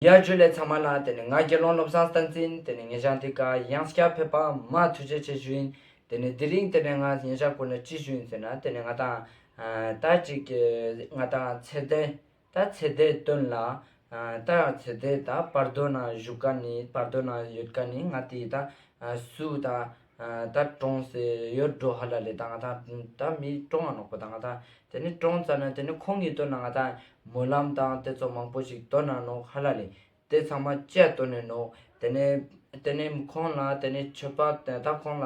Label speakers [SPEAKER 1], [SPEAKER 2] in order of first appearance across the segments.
[SPEAKER 1] ཡར་བརྗོད་ལས་ཚང་མ་ལ་དེ་ནི་ང་དགེ་སློང་བློ་བཟང་སྟངས་འཛིན་དེ་ནི་ངེད་ཅག་འདི་ག་གཡང་སྐྱར་ཕེབས་པ་མ་ཐུགས་རྗེ་ཆེ་ཞུ་ཡིན་དེ་ནི་དེ་རིང་དེ་ནས་ང་ངེད་ཅག་ཀུན་ལ་ཅི་ཞུ་ཡིན་ཟེར་ན་དེ་ནི་ང་དང། ད་ཅིག་གི་ང་དང་ཚེ་འདས་ད་ཚེ་འདས་སྟོན་ལ། ད་ཡང་ཚེ་འདས་ད་བར་དོའི་ནང་བཞུགས་ཀ་ནི་བར་དོའི་ནང་ཡོད་ཀ་ནི་ང་དེ་ད་སུ་དང། ད་ཀྲོང་ཟེར་ཡོད་འགྲོ་ཧ་ལ་ལེ་ད་ང་དང་ད་མི་ཀྲོང་ང་ནོག་པོ་ད་ང་དང་དེ་ནི་ཀྲོང་ཙ་ན་དེ་ནི་ཁོང་གཉིས་སྟོན་ན་ང་དང་མོ་ལམ་དང་དེ་ཚོ་མང་པོ་ཞིག་སྟོན་ན་ནོག་ཧ་ལ་ལེ་དེ་ཚང་མ་བཅས་སྟོན་ནས་ནོག་དེ་ནི་དེ་ནི་ཁོང་ལ་དེ་ནི་ཆོས་པ་ད་ཁོང་ལ་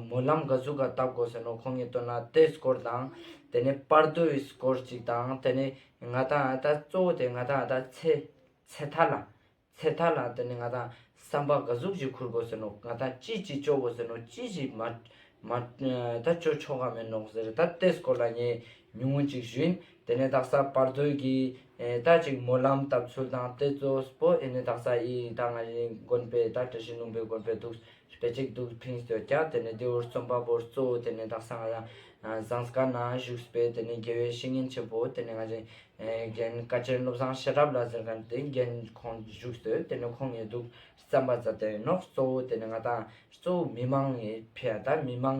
[SPEAKER 1] མོ་ལམ་ག་ཟུག་ག་བལྟ་དགོ་ཟེར་ནོག་ཁོང་གཉིས་སྟོན་ན་དེ་སྐོར་དང་དེ་ནི་པར་དོ་ཡི་སྐོར་ཅིག་དང་དེ་ནི་ང་དང་ད་གཙོ་བོ་དེ་ང་དང་ད་ཚེ་ཚེ་ཐར་ལ་ཚེ་ཐར་ལ་དེ་ནི་ང་དང་བསམ་པ་འགའ་ཟུག་ཅིག་འཁུར་དགོས་ཟེར་ནོ་ང་དང་ཅི་ཅིག་སྤྱོ་བོ་ཟེར་ནོ་ཅི་ཞིག་མ། མ། ད་སྤྱོ་ཆོ་ག་མེད་ནོག་ཟེར་ད་ཏེས་སྐོར་ལ་ངས་ཉུང་ངུ་ཅིག་བཞིན་དེ་ནས་དག་ས་བར་དོའི་གི། ད་ཅིག་སྨོན་ལམ་བཏབ་ཚུལ་དང་ཏེ་ཙོས་པོ་ཨེ་ནི་དག་ས་ཨི་ཡིན་ད་ང་ཡིན་དགོན་པའི་ད་བཀྲ་ཤིས་ལུང་པའི་དགོན་པའི་འདུག་སྤེལ་གཅིག་འདུག་ཕིང་སྟོད་རྒྱ་དེ་ནས་ལྡེའུར་རྩོམ་པ་པོར་གཙོ་བོ་དེ་ནས་དག་ས་ང་རང་བཟང་སྒར་ན་བཞུགས་སྤེལ་དེ་ནས་དགེ་བའི་བཤེས་གཉེན་ཆེན་པོ་དེ་ནས་ང་རེ་རྒན་བཀའ་བྱན་བློ་བཟང་ཤེས་རབ་ལ་ཟེར་མཁན་དེ་རྒན་ཁོང་བཞུགས་སྟོད་དེ་ནས་ཁོང་ངེས་འདུག་བརྩམས་པ་ཛར་དེ་ནོག་གཙོ་བོ་དེ་ནས་ང་དང་གཙོ་བོ་མི་མང་ཡིན་ཕེ་ད་མི་མང་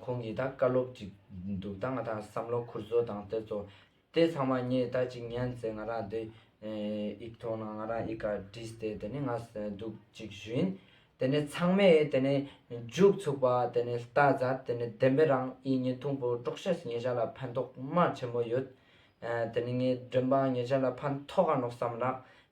[SPEAKER 1] ཁོང་གིས་ད་བཀའ་སློབ་ཅིག་འདུག་ད་ང་ད་བསམ་བློ་འཁུར་བཟོ་དང་བལྟས་ཚོ། དེ་ཚང་མ་ངས་ད་ཅིག་ཉན་ཚེ་ང་རང་དེ་ཡིག་ཐོག་ན་ང་རང་ཡིག་ག་བྲིས་ཏེ་དེ་ནས་ང་འདུག་ཅིག་ཞུན། དེ་ནས་ཚང་མས་དེ་ནས་མཇུག་ཚུགས་པ་དེ་ནས་བལྟ་ཛ་དེ་ནས་བདེན་པའི་རང་ཨི་ཉིན་ཐུང་པོ་པྲོག་ཤ་ཟི་ངེད་ཅག་ལ་ཕན་ཐོག་མ་ཆེན་པོ་ཡོད། དེ་ནས་ངས་འདྲེན་པ་ངེད་ཅག་ལ་ཕན་ཐོག་ག་ནོག་བསམ་ལགས།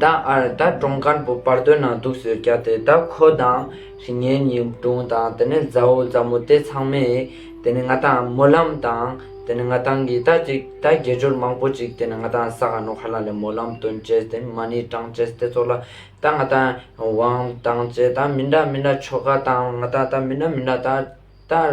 [SPEAKER 1] ད་ཨར་ད་གྲོང་ཁར་བུ་དཔར་སྟོན་ནང་འདུག་ཟེར་སྐྱ་དེ་ད་ཁོ་དང་རི་ངན་གཉིས་སྒྲུང་དང་དེ་ནས་མཛའ་བོ་མཛའ་མོ་དེ་ཚང་མས་དེ་ནས་ང་དང་མོ་ལམ་དང་དེ་ནས་ང་དང་གིས་ད་ཅིག་ད་དགེ་སྦྱོར་མང་པོ་ཅིག་དེ་ནས་ང་དང་ས་ག་ནོ་ཧ་ལ་ལས་མོ་ལམ་སྟོན་བཅས་དེ་མ་ནི་ཀྲང་བཅས་དེ་ཚོ་ལ་ད་ང་དང་ཝང་དང་བཅས་ད་མི་འདྲ་མི་འདྲ་ཆོ་ག་དང་ང་དང་ད་མི་འདྲ་མི་འདྲ་ད་ད།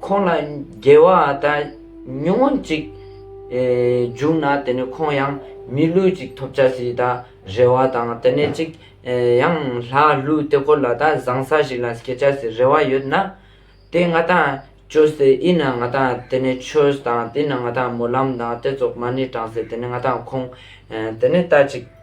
[SPEAKER 1] ཁོང་ལ་དགེ་བ་དང་ཉུང་ངུ་གཅིག་བྱུང་ན་དེ་ནི་ཁོང་ཡང་མི་ལུས་ཅིག་ཐོབ་བྱ་ཞེས་ད་རེ་བ་དང་དེ་ནས་གཅིག་ཡང་ལྷ་ཀླུའི་དེ་ཀོ་ལ་ད་བཟང་ས་ཞིག་ལ་སྐྱེ་བྱ་ཞེས་རེ་བ་ཡོད་ན། དེ་ང་དང་ཁྱོད་ཟེར་ཨི་ན་ང་དང་དེ་ནས་ཁྱོད་དང་དེ་ན་ང་དང་སྨོན་ལམ་དང་དེ་ཚོགས་མ་ནི་དྲང་ཟེར་དེ་ནི་ང་དང་ཁོང་དེ་ནི་ད་ཅིག།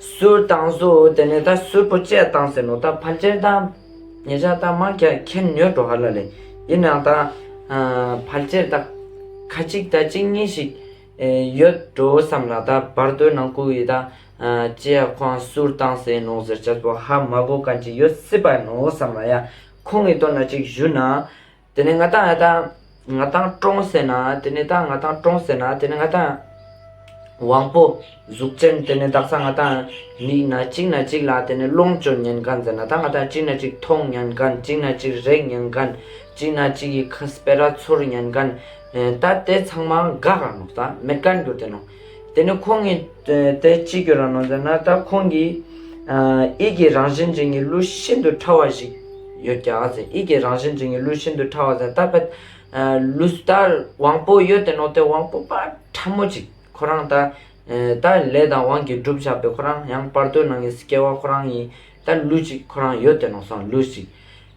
[SPEAKER 1] གསུར་དང་སུ་དེ་ནས་ད་གསུར་པོ་བཅས་དང་ཟེར་ནོ་ད་ཕར་སྐྱེལ་དང། ངེད་ཅག་ད་མང་སྐྱ་ཁྱེར་ཉོས་འགྲོ་ཧ་ལ་ལེ། ཡིན་ནའང་ད། ཕར་སྐྱེལ་ད། ཁ་ཅིག་ད་གཅིག་གཉིས་ཤིག། ཡོད་འགྲོ་བསམ་ལ་ད་བར་དོའི་ནང་བཀུག་ཡིས་ད། ལྕེ་ཡ་ཁོང་གསུར་དང་ཟེར་ནོ་ཟེར་བྱས་སོ་ཧ་མ་གོ་ག་ཅིག་ཡོད་སྲིད་པ་ཡིན་ནོ་བསམ་ལ་ཡ། ཁོང་གིས་བཏོན་ན་ཅིག་བཞུ་ན། དེ་ནས་ང་ཐང་ཡ་ཐང་ང་ཐང་ཀྲོང་ཟེར་ན་དེ་ནས་ཐང་ང་ཐང་ཀྲོང་ཟེར་ན་དེ་ནས་ང་ཐང་དབང་པོ་གཟུགས་ཅན་དེ་ནས་བདག་ས་ང་ཐང་མིག་ན་གཅིག་ན་གཅིག་ལ་དེ་ནས་ལོངས་སྤྱོད་ཉན་གང་ཟེར་ན་ཐང་ང་ཐང་གཅིག་ན་གཅིག་མཐོང་ཉན་གང་གཅིག་ན་གཅིག་རེག་ཉན་གང་གཅིག་ན་གཅིག་གི་ཁ་སྤེ་ར་ཚོར་ཉན་གང་ད་དེ་ཚང་མ་འགག་རང་ནོག་ད་མེད་གང་འགྱུར་དེ་ནོག་དེ་ནས་ཁོང་གི་དེ་ཅི་འགྱུར་ར་ནོར་ཟེར་ན་ད་ཁོང་གིས་ཨིག་གི་རང་བཞིན་འབྱིན་གྱི་གླུ་ཤིན་ཏུ་ཕྲ་བ་ཞིག་ཡོད་ཀྱ་ཟེར་ཨིག་གི་རང་བཞིན་འབྱིན་གྱི་གླུ་ཤིན་ཏུ་ཕྲ་བ་ཟེར་ད་ཕེད་ལུས་ད་དབང་པོ་ཡོད་དེ་ནོར་དེ་དབང་པོ་དཔའ་ཕྲ་མོ་ཅིག་ཁོ་རང་ད་ད་ལས་དང་དབང་གིས་བསྒྲུབ་བཞག་པའི་ཁོ་རང་ཡང་བར་དོའི་ནང་གི་སྐྱེ་བ་ཁོ་རང་ཡིན་ད་ལུས་ཅིག་ཁོ་རང་ཡོད་དེ་ནོར་སང་ལུས་ཅིག།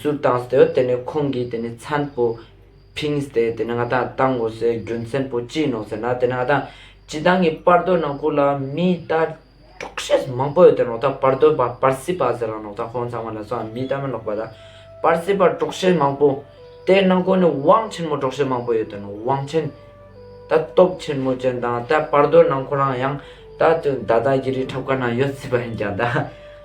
[SPEAKER 1] ཟུར་བཏང་སྟེ་དེ་ནས་ཁོང་གིས་དེ་ནས་མཚན་པོ་ཕིང་སྟེ་དེ་ནས་ང་ད་ལྟ་ངོ་སོའི་རྒྱུ་མཚན་པོ་ཅི་ཡིན་ནོ་ཟེར་ན་དེ་ནས་ང་ད་ཇི་ད་ངའི་པར་དོན་ནང་ཁུག་ལ་མི་ད་དཀྲོག་ཤེས་མང་པོ་ཡོད་དེ་ནོག་ད་པར་དོན་པ་པར་སི་པ་ཟེར་རང་ནོག་ད་ཁོང་ཚང་མ་ལ་སོང་ཡང་མི་ད་མི་ལོག་པ་ད་པར་སི་པ་དཀྲོག་ཤེས་མང་པོ་དེ་ནང་ཁུག་ནས་བང་ཆེན་མོ་དཀྲོག་ཤེས་མང་པོ་ཡོད་དེ་ནོག་བང་ཆེན་ད་སྟོབས་ཆེན་མོ་ཅན་དང་ད་པར་དོན་ནང་ཁོ་རང་ཡང་ད་དུ་ད་ད་གི་རི་ཁྲབ་ཁ་ན་ཡོད་སྲིད་པ་ཡིན་ཀྱང་ད།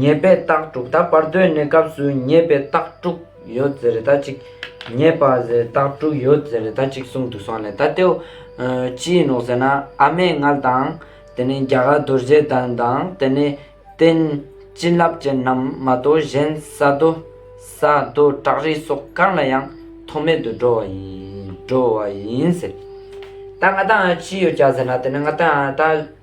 [SPEAKER 1] ཉེས་པའི་རྟགས་དྲུག་ད་བར་དོའི་གནས་སྐབས་སུ་ཉེས་པའི་རྟགས་དྲུག་ཡོད་ཟེར་ད་ཅིག་ཉེས་པ་ཟེར་རྟགས་དྲུག་ཡོད་ཟེར་ད་ཅིག་གསུངས་འདུག་སོང་ལེ་ད་ལྟེའུ། ཅིའི་ནོག་ཟེར་ན་ཨ་མའི་མངལ་དང། དེ་ནས་རྒྱ་གར་རྡོ་རྗེ་གདན་དང་དེ་ནས་རྟེན། བྱིན་རླབས་ཅན་རྣམས་མ་གཏོགས་གཞན་ས་རྡོ། ས་རྡོ་བྲག་རི་སོགས་གང་ལ་ཡང་ཐོགས་མེད་དུ་འགྲོ་བ་ཡིན་འགྲོ་བ་ཡིན་ཟེར། ད་ང་ད་ཅི་ཡོད་བྱ་ཟེར་ན་དེ་ནས་ང་ད་ད་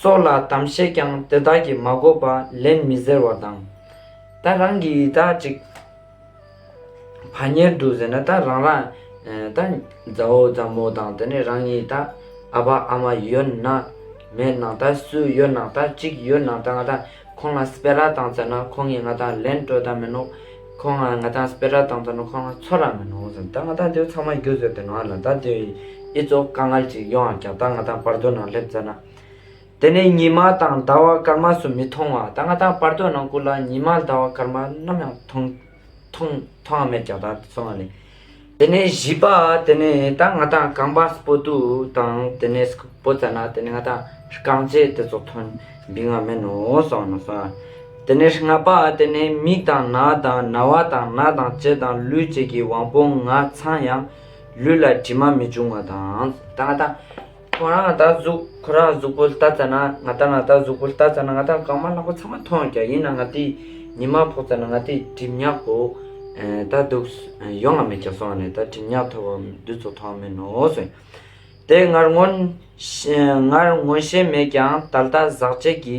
[SPEAKER 1] སོགས་ལ་དམ་བཤད་ཀྱང་དེ་དག་གིས་མ་གོ་བ་ལན་མི་ཟེར་བ་དང། ད་རང་གིས་ད་ཅིག་བ་གཉེར་འདུག་ཟེར་ན་ད་རང་རང་ད་མཛའ་བོ་མཛའ་མོ་དང་དེ་ནས་རང་ཉིད་ད་ཨ་ཕ་ཨ་མ་ཡོད་ན་མེད་ན་ད་སུ་ཡོད་ན་ད་ཅིག་ཡོད་ན་ད་ང་ད། ཁོང་ང་སྤེ་ར་དང་བཙལ་ན་ཁོང་གིས་ང་དང་ལེན་སྤྲོད་ད་མིན་ནོ། ཁོང་ང་ང་དང་སྤེ་ར་དང་བཙལ་ན་ཁོང་ང་འཚོ་ར་མིན་ནོ་ཟེར། ད་ང་དང་དེའུ་ཚང་མ་རྒྱུགས་ཟེར་དེ་ང་ལ་ད་དེའུ་ཡི་ཨི་ཙོ་དཀའ་ངལ་ཅིག་ཡོང་ཨ་རྒྱག་ད་ང་དང་པར་དོ་ནང་སླེབས་བཙལ་ན། དེ་ནས་ཉི་མ་དང་ཟླ་བ་སྐར་མ་སུ་མི་མཐོང་བ་ད་ང་དང་པར་དོ་ནང་བསྐུར་ལ་ཉི་མ་ཟླ་བ་སྐར་མ་ནམ་ཡང་མཐོང་མཐོང་མཐོང་ཨ་མེད་རྒྱག་ད་སོང་ཨ་ལེ། དེ་ནས་བཞི་པ་དེ་ནས་ད་ང་ད་རྐང་པ་སྤོ་ཏུ་དང་དེ་ནས་སྤོ་ཚ་ན་དེ་ནས་ང་ད་རྐང་རྗེས་དེ་ཚོ་ཐོན་འབི་ང་མེད་ནོ་སོང་ནོ་སོང་ཡ། དེ་ནས་ལྔ་པ་དེ་ནས་མིག་དང་ན་དང་ན་བ་དང་ན་དང་ལྕེ་དང་ལུས་བཅས་ཀྱི་དབང་པོ་ང་ཚང་ཡང་ལུས་ལ་དྲི་མ་མི་འབྱུང་བ་དང། ད་ང་ད། ཁོ་རང་ང་ལྟར་གཟུགས་ཁོ་རང་གཟུགས་པོ་ལྟ་ཙམ་ན་ང་ལྟར་ང་ལྟར་གཟུགས་པོ་ལྟ་ཙམ་ན་ང་ལྟར་གང་མ་ལྷག་པ་ཚང་མ་མཐོང་ཀྱང་ཡིན་ན་ང་དེ་ཉི་མ་ཕོག་ཙམ་ན་ང་དེ་གྲིབ་ཉག་པོ་ད་འདུག་ཡོང་ང་མེད་ཀྱང་སོང་བ་ནས་ད་གྲིབ་ཉག་ཐོར་བ་འདི་ཚོ་མཐོང་མིན་ནོ་གསུངས། དེ་ངར་ངོ་ཤེས་མེད་ཀྱང་ད་ལྟ་ཟག་བཅས་ཀྱི།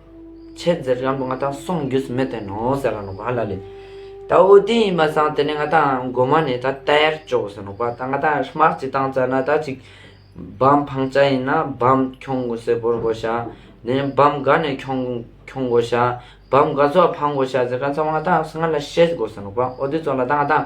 [SPEAKER 1] ཆེད་འཛེར་སྐྱང་པོ་ང་དང་གསུང་རྒྱུ་ཟིན་མེད་དེ་ནོ་ཟེར་ར་ནོག་པ་ལ་ལས། ད་འོ་དེ་ཡིན་པ་སང་དེ་ནས་ང་དང་མགོ་མ་ནས་ད་དལ་བཅོག་ཟེར་ནོག་པ་ད་ང་དང་སྨག་ཅིག་བཏང་ཙར་ན་ད་ཅིག་བམ་འཕང་ཅག་ཡིན་ན་བམ་ཁྱོང་གོ་ཟེར་བོར་གོ་ཤག་ནས་བམ་ག་ནས་ཁྱོང་ཁྱོང་གོ་ཤག་བམ་ག་ཚོགས་འཕང་གོ་ཤག་ཟེར་ག་ཚང་མ་ང་དང་སང་ང་ལ་བཤད་གོ་ཟེར་ནོག་པ་འོ་དེ་ཚོགས་ལ་ད་ང་དང་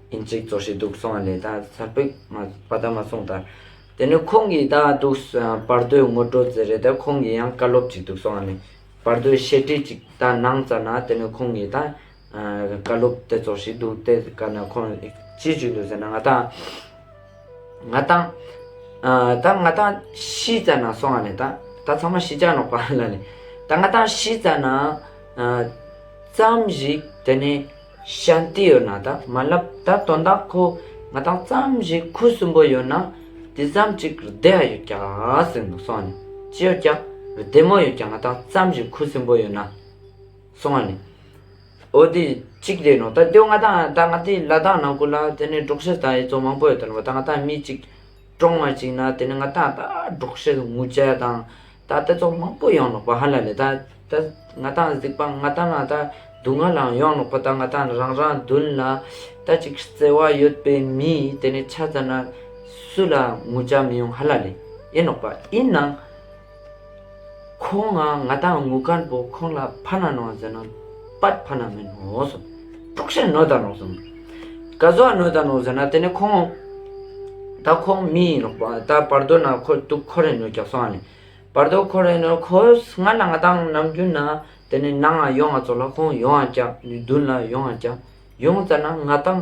[SPEAKER 1] ཨིན་ཅིག་གཙོ་ཞིག་འདུག་སོང་བ་ལས་ད་གཟར་པིག་མ་པ་ད་མ་སོང་ད། དེ་ནི་ཁོང་གིས་ད་འདུག་བར་དོའི་ངོ་སྤྲོད་ཙི་རེད་ད་ཁོང་གིས་ཡང་བཀའ་སློབ་ཅིག་འདུག་སོང་བ་ནི། བར་དོའི་བཤད་ཁྲིད་ཅིག་ད་གནང་ཙ་ན་དེ་ནི་ཁོང་གིས་ད། བཀའ་སློབ་དེ་ཙོ་ཞིག་འདུག་དེ་ག་ན་ཁོང་ཅི་ཞིག་འདུག་ཟེར་ན་ང་ད། ང་ད། ད་ང་ད་ཤི་ཙ་ན་སོང་བ་ལས་ད་ད་ཚང་མ་ཤི་ཅག་ནོག་པ་ལ་ལས། ད་ང་ད་ཤི་ཙ་ན། ཙམ་ཞིག་དེ་ནི། ཤཱན་ཏི་ཡོད་ན་ད་མ་ལབ་ད་དོན་དག་ཁོ་ང་དང་ཙམ་ཞིག་ཁུ་སུམ་པོ་ཡོད་ན་དེ་ཙམ་ཅིག་རྡེ་ཨ་ཡོད་ཀྱང་སྲིང་ནོ་སོང་ནི་ཅི་ཡོད་ཀྱང་རྡེ་མོ་ཡོད་ཀྱང་ང་དང་ཙམ་ཞིག་ཁུ་སུམ་པོ་ཡོད་ན་སོང་ཨ་ནི་ཨོ་དེ་ཅིག་རེད་ནོ་ད་དོན་ང་དང་ད་ང་དེ་ལ་དང་ནང་ཁུ་ལ་དེ་ནས་འབྲོག་ཤི་དང་ཡེ་ཙོང་མང་པོ་ཡོད་ད་ནོ་ད་ང་དང་མི་ཅིག་ཀྲོང་མ་གཅིག་ན་དེ་ནི་ང་ད་ལྟ་སྒྲོག་བཤད་ངུ་བཅལ་དང་ད་ལྟ་ཚོགས་མང་པོ་ཡོང་ནོག་པ་ཧ་ལ་ལས་ད་ད་ང་ད་གཟིགས་པ་ང་ད་ན་ད་སྡུག་བསྔལ་ལའང་ཡོང་ནོག་པ་ད་ང་ད་རང་རང་མདུན་ལ་ད་གཅིག་བརྩེ་བ་ཡོད་པའི་མི་དེ་ནི་ཆ་ཙམ་ན་སུ་ལ་ངུ་བཅལ་མི་ཡོང་ཧ་ལ་ལས་ཡིན་ནོག་པ་ཡིན་ནང། ཁོང་ང་ང་དང་ངུ་དཀར་པོ་ཁོང་ལ་ཕ་ན་ནོ་ཟེར་ན་པར་ཕ་ན་མིན་ནོ་ཟེར། དཀྲུག་ཤིང་ནོ་ད་ནོ་ཟེར། ག་ཟོ་ནོ་ད་ནོ་ཟེར་ན་དེ་ནི་ཁོང་ད་ཁོང་མི་ཡིན་ནོ་ད་བར་དོ་ན་ཁོ་དུག་ཁོ་རེ་ནོ་རྒྱག་སོང་ཨ་ནི་བར་དོ་ཁོ་རེ་ནོ་ཁོ་སྔར་ལ་ང་དང་ནམ་རྒྱུན་ན་དེ་ནི་ནང་ང་ཡོང་ང་ཚོ་ལ་ཁོང་ཡོང་ང་རྒྱག་ནུས་བདུན་ལ་ཡོང་ང་རྒྱག་ཡོང་ཙ་ན་ང་དང་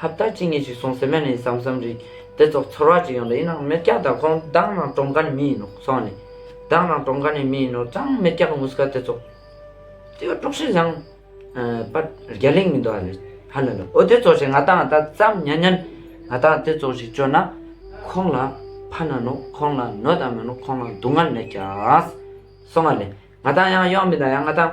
[SPEAKER 1] ཧབ་ལྟ་ཅི་ངེས་ཞིག་སོང་ཟེར་མས་ནས་བསམ་བསམ་རིག་དེ་ཚོ་ཚོར་བ་ཅིག་ཡོང་ལ་ཡིན་ནའང་མེར་སྐྱ་དང་ཁོང་བདག་ནང་གྲོང་ཁ་ནས་མི་ཡིན་ནོ་སོང་ནས། བདག་ནང་གྲོང་ཁ་ནས་མི་ཡིན་ནོ་ཙང་མེར་སྐྱ་གི་ངུ་སྐད་དེ་ཚོ། དེ་བས་དཀྲོགས་ཤིང་བཟང། པ་རྒྱ་གླིང་མི་འདུག་ཨ་ལེ། ཧ་ལེ་ལེ་ཨོ་དེ་ཚོ་ཞིག་ང་དང་ཨ་ད་ཙམ་ཉན་ཉན། ང་དང་དེ་ཚོ་ཞིག་བཅོས་ན། ཁོང་ལ་ཕ་ན་ནོ་ཁོང་ལ་ནོ་དང་མེ་ནོ་ཁོང་ལ་སྡུག་བསྔལ་མེད་ཀྱང། སོང་ཨ་ལེ། ང་དང་ཡང་ཡོང་མི་དང་ཡང་ང་དང།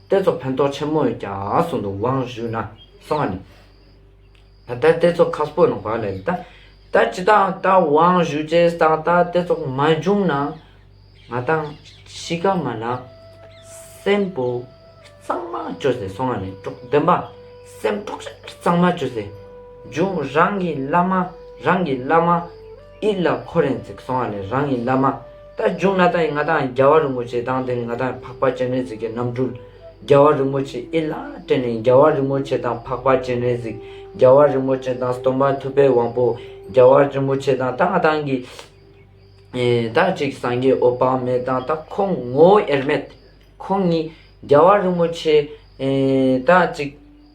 [SPEAKER 1] གཏེར་ཚོགས་ཕན་ཐོགས་ཆེན་མོས་ཀྱང་གསུང་དུ་དབང་ཞུས་ན། གསང་བ་ནི། ད་ལྟར་གཏེར་ཚོགས་ཁ་སྤོས་ནང་བར་ལས་ལ་ལྟ། ད་ཅི་ད་ལྟ་དབང་ཞུས་ཅེས་གསང་ལྟ་གཏེར་ཚོགས་མ་འབྱུང་ན། ང་དང་གཤིས་ཀ་མ་ལགས་སེམས་བུ་གཙང་མ་བཅོས་ཟེར་གསང་བ་ནི་གྲོགས་བདེན་པ་སེམས་གྲོགས་ཤར་གཙང་མ་བཅོས་ཟེར། འབྱུང་རང་གི་བླ་མ་རང་གི་བླ་མ། ཨི་ལ་ཁོ་རེན་ཙིག་སོང་བ་ནི་རང་གི་བླ་མ། རྟ་རྒྱུག་ནཱ་ཏཱི་ང་ཐང་རྒྱལ་བ་རིན་པོ་ཆེའི་དང་དེ་ནི་ང་ཐང་འཕགས་པ་སྤྱན་རས་གཟིགས་ཀྱི་རྣམ་སྤྲུལ། རྒྱལ་བ་རིན་པོ་ཆེ་ཨི་ལའི་སྤྲིན་ནི་རྒྱལ་བ་རིན་པོ་ཆེ་དང་འཕགས་པ་སྤྱན་རས་གཟིགས། རྒྱལ་བ་རིན་པོ་ཆེ་དང་སྟོན་པ་ཐུབ་པའི་དབང་པོ། རྒྱལ་བ་རིན་པོ་ཆེ་དང་ད་ང་ཐང་གི། ད་གཅིག་སངས་རྒྱས་ཨོ་བ་མས་དང་ད་ཁོ་ངོ་ཨེར་མེད། ཁོང་གཉིས། རྒྱལ་བ་རིན་པོ་ཆེ། ད་གཅིག།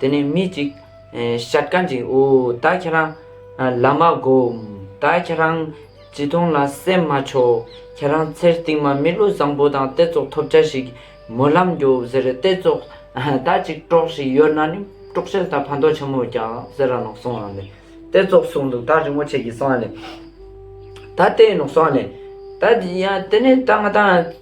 [SPEAKER 1] དེ་ནས་མི་གཅིག། ཤ་དཀར་འཇིགས་འོ་ད་ཁྱེད་རང། ལ་མ་སྒོམ། ད་ཁྱེད་རང། བྱིས་སྟོང་ལ་སེམས་མ་ཆོག། ཁྱེད་རང་ཚེ་རྟིང་མ་མི་ལོ་བཟང་པོ་དང་ལྟེ་ཚོགས་ཐོབ་བྱ་ཞིག། མོ་ལམ་རྒྱོབ་ཟེར་ལྟེ་ཚོགས། ད་ཅིག་སྤྲོག་ཞིག་ཡོད་ན་ནི་སྤྲོག་ཆལ་དང་ཕ་མདོག་ཆེན་མོ་རྒྱག་ཟེར་ར་ནོག་སོང་ཨ་ལེ། ལྟེ་ཚོགས་སོང་འདུག་ད་རི་མོ་ཆེ་གི་སོང་ཨ་ལེ། ད་ལྟེ་ནོག་སོང་ཨ་ལེ། ད་ཡ་དེ་ནས་ད་ང་ད།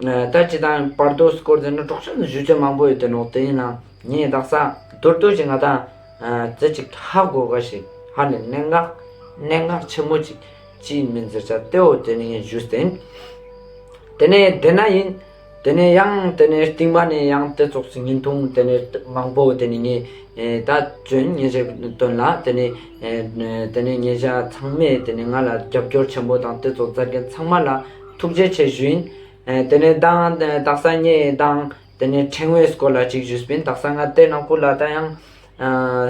[SPEAKER 1] ད་ཅི་དང་པར་དོ་སྐོར་འཛིན་ན་གྲོགས་ཆོས་ནི་བཞུད་ཆོས་མང་པོ་ཡོད་དེ་ནོག་དེ་ཡིན་ན་ངས་བདག་ས་རྡོར་རྡོར་གྱི་ང་དང་རྫི་ཅིག་ཧ་གོ་ག་ཞིག་ཧ་ནི་གནད་འགག་གནད་འགག་ཆེན་མོ་ཅིག་ཅིས་མི་འཛེར་ཆ་ཏེ་འོ་དེ་ནི་ངས་བཞུད་ཟིན། དེ་ནས་དེ་ན་ཡིན། དེ་ནས་ཡང་དེ་ནས་རྟིང་མ་ནས་ཡང་དེ་ཙོག་ཙིག་ཉིན་ཐུང་དེ་ནས་མང་པོ་དེ་ནི་ངས་ད་བྱོན་ངས་བྱས་དོན་ལ་དེ་ནས་དེ་ནས་ངས་བྱ་ཚང་མས་དེ་ནས་ང་ལ་རྒྱབ་སྐྱོར་ཆེན་པོ་དང་དེ་ཙོག་རྫ་རྒན་ཚང་མ་ལ་ཐུགས་རྗེ་ཆེ་ཞུན། དེ་ནས་བདག་དག་ས་ཉེ་ཡི་དང། དེ་ནས་ཕྲེང་བའི་སྐོར་ལ་ཅིག་ཞུས་པིན་དག་ས་ང་སྟེ་ནག་པོ་ལ་ད་ཡང།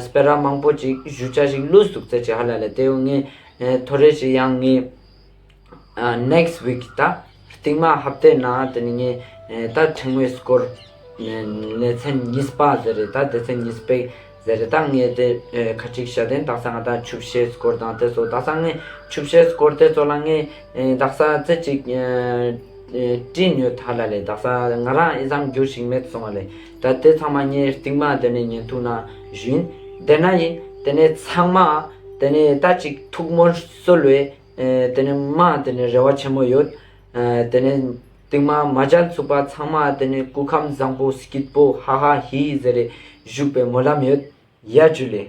[SPEAKER 1] སྤེ་ར་མང་པོ་ཅིག་ཞུ་བྱ་ཞིག་བླུ་ཟུག་ཚེ་ཅི་ཧ་ལ་ལས་དེ་ཡོ་ངས་ཐོ་རེ་ཞིག་ཡང་ངས། next week ད་རྟིང་མ་ཧབ་ཏེ་ན་དེ་ནས་ངས་ད་ཕྲེང་བའི་སྐོར། ནས་ཚན་ཉིས་པ་ཟེར་རེད་ད་དེ་ཚན་ཉིས་པའི། ཟེར་རེ་དང་ངས་དེ་ཁ་ཁྲིག་ཤ་དེ་འདག་ས་ང་དང་ཆུབ་བཤད་སྐོར་དང་དེ་ཚོ་འདག་ས་ངས་ཆུབ་བཤད་སྐོར་དེ་ཚོ་ལ་ངས་འདག་ས་རྩེ་གཅིག་བཀྲིས་ཉོས་ད་ལ་ལས་འདག་ས་ང་རང་ཨེ་བསམ་རྒྱུར་ཞིག་མེད་སོང་བ་ལས་ད་དེ་ཚང་མ་ངའི་རྟིང་མ་དེ་ནས་ཉན་ཐུག་ན་བཞིན་བསྡད་ན་ཡིན་དེ་ནས་ཚང་མ་དེ་ནས་ད་ཅིག་ཐུགས་མོལ་གསོལ་བས་དེ་ནས་མ་དེ་ནས་རེ་བ་ཆེན་མོ་ཡོད་དེ་ནས། སྟེང་མ་མ་སྦྱར་ཚུགས་པ་ཚང་མ་དེ་ནས་སྐུ་ཁམས་བཟང་པོ་སྐྱིད་པོ་ཧ་ཧ་ཧི་ཧི་ཟེར་རེ་བཞུགས་པའི་སྨོན་ལམ་ཡོད། ཡ་བརྒྱུད་ལས།